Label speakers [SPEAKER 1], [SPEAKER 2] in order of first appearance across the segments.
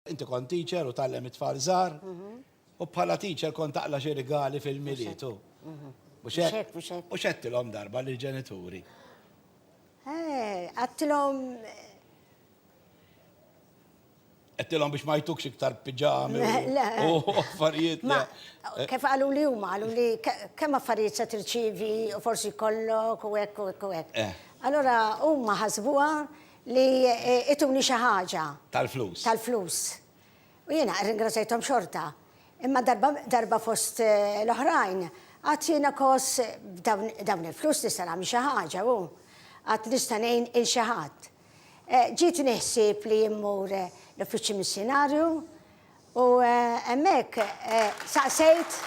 [SPEAKER 1] Inti kont teacher u tgħallem it-tfal żgħar u bħala teacher kont taqla xi rigali fil-milied u. Mhux Mhux hekk? hekk, mhux hekk. Mhux għedtilhom darba lill-ġenituri. Eh, għattilhom Għedtilhom biex ma jtukx iktar piġami Le, le. u u affarijiet. Ma, le. kif għalu li huma, għalu li ke- kemm affarijiet se tirċivi u forsi kollok u hekk u hekk u hekk. Eh. Allora huma ħasbuha li ituni xi ħaġa. Tal-flus. Tal-flus. U jiena rringrazzajthom xorta. Imma darba fost l-oħrajn, għad jiena kos dawn il-flus nista' nagħmel xi ħaġa u għad nista' ngħin il xi ħadd. Ġietni ħsieb li immur l-uffiċċju missjunarju U hemmhekk saqsejt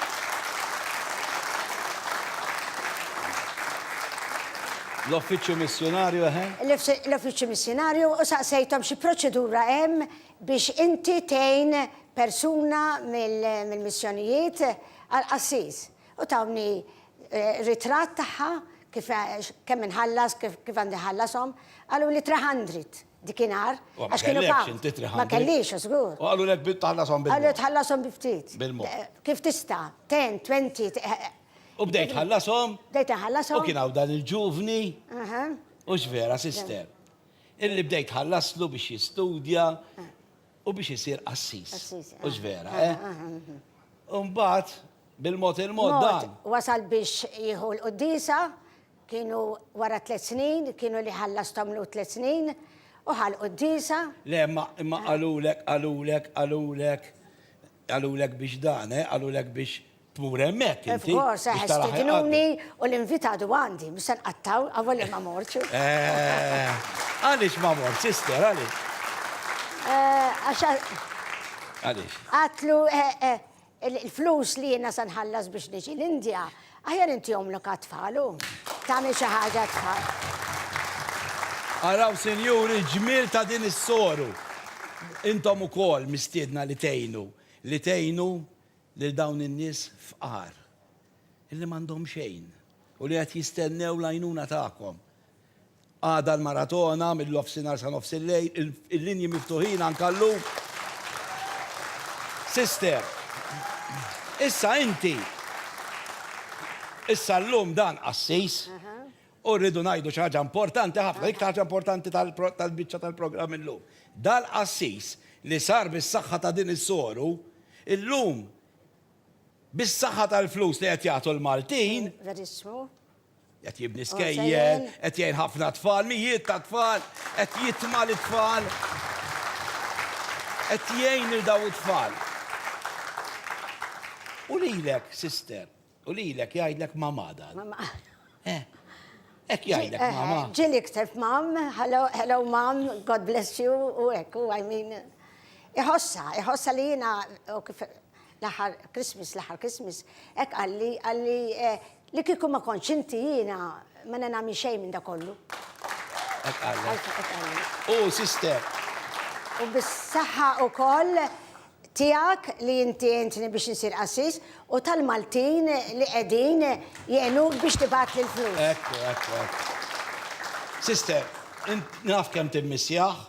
[SPEAKER 1] L-Uffiċċju Missjunarju, eħe. L-Uffiċċju Missjunarju u saqsejthom xi proċedura hemm biex inti tgħin persuna mill-missjonijiet għal qassis. U tawni ritratt tagħha, kif kemm inħallas, kif għandi nħallashom, qaluli 300. dikinhar. Ma kellekx inti 300. Ma kellix, żgur. U qalu lek tħallasom bil-mod. Qalu tħallasom bi ftit. Bil-mod. Kif tista'? 10, 20. U bdejt tħallasom. Bdejt inħallasom. U kien hawn dan il-ġuvni. Aha. U x'vera, sister. Illi bdejt tħallaslu biex jistudja u biex isir qassis. Qassis. U x'vera, eh? U mbagħad bil-mod il-mod dan. Wasal biex jieħu l-quddisa. Kienu wara tliet snin, kienu li ħallastthom lhu tliet snin, u ħal quddiesa. Le, imma, imma qalulek, qalulek, qalulek, qalulek biex dan, eh, qalulek biex tmur hemmhekk inti. Of course, eh, stidnuni u l-invitat huwa għandi, mhux se nqattgħu, avolja ma mortx. Eh, għaliex ma mortx, sister, għaliex? Eh, għax. Għaliex? Għatlu, eh, eh, Il-flus li jiena se nħallas biex niġi l-Indja, aħjar intihomlok għat-tfal u tagħmel xi ħaġa għat-tfal. Araw, sinjuri, l-ġmiel ta' din is-soru! Intom ukoll mistiedna li tgħinu, li tgħinu lil dawn in-nies fqar, li m'għandhom xejn u li qed jistennew l-għajnuna tagħkom. Għada l-maratona mill-nofsinhar sa nofs il-lejl, il-linji miftuħin anke llum. Sister, issa inti, issa llum dan qassis u rridu ngħidu xi ħaġa importanti ħafna, l-iktar ħaġa importanti tal-biċċa tal-programm illum. Dal-qassis li sar bis-saħħa ta' din is-soru, illum bis-saħħa tal-flus li qed jagħtu l-Maltin, Qed jibni oh, skejjel, qed jgħin ħafna tfal, mijiet ta' tfal, qed jitma' li tfal. Qed jgħin il daw it-tfal. U lilek, sister, u lilek jgħidlek mamada. Eh, ek jgħidlek eh, mama. Ġili ktef mam, hello, hello mam, God bless you, u ek, u I mean. Iħossa, iħossa li jina, L-aħħar Christmas, l-aħħar Christmas, hekk qalli, qalli li kieku ma kontx inti jiena ma nagħmel xejn minn dak kollu. Hekk qalli. U sister. U bis-saħħa wkoll tiegħek li inti għintni biex insir qassis u tal-Maltin li qegħdin jgħinuk biex tibgħat li l-flus. Ekku, ekku, ekku. Sister, int naf kemm timmissjah.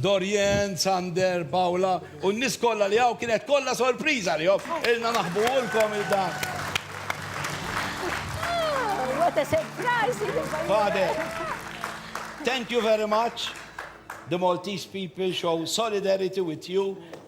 [SPEAKER 1] Dorian, Sander, Paula u n-nies kollha li hawn kienet kollha sorpriża għalihom. Ilna naħbuhulkom il dan. What a surprise! Father, thank you very much. The Maltese people show solidarity with you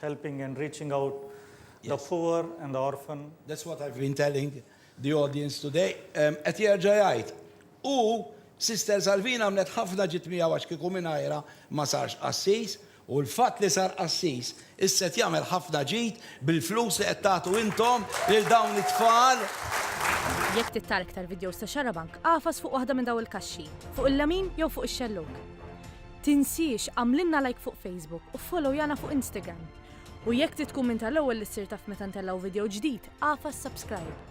[SPEAKER 1] helping and reaching out the poor and the orphan. That's what I've been telling the audience today. Qed jerġa' jgħid. U Sister Salvina għamlet ħafna ġid miegħu għax kieku mingħajrha ma sarx qassis, u l-fatt li sar qassis issa qed jagħmel ħafna ġid bil-flus li qed tagħtu intom lil dawn it-tfal. Jekk trid tara iktar vidjows ta' Xarabank, agħfas fuq waħda minn dawn il-kaxxi, fuq il-lemin jew fuq ix-xellug. Tinsiex għamlilna like fuq Facebook u followyana fuq Instagram. U jekk trid tkun minn tal-ewwel li ssir taf meta ntellgħu video ġdid, agħfas subscribe.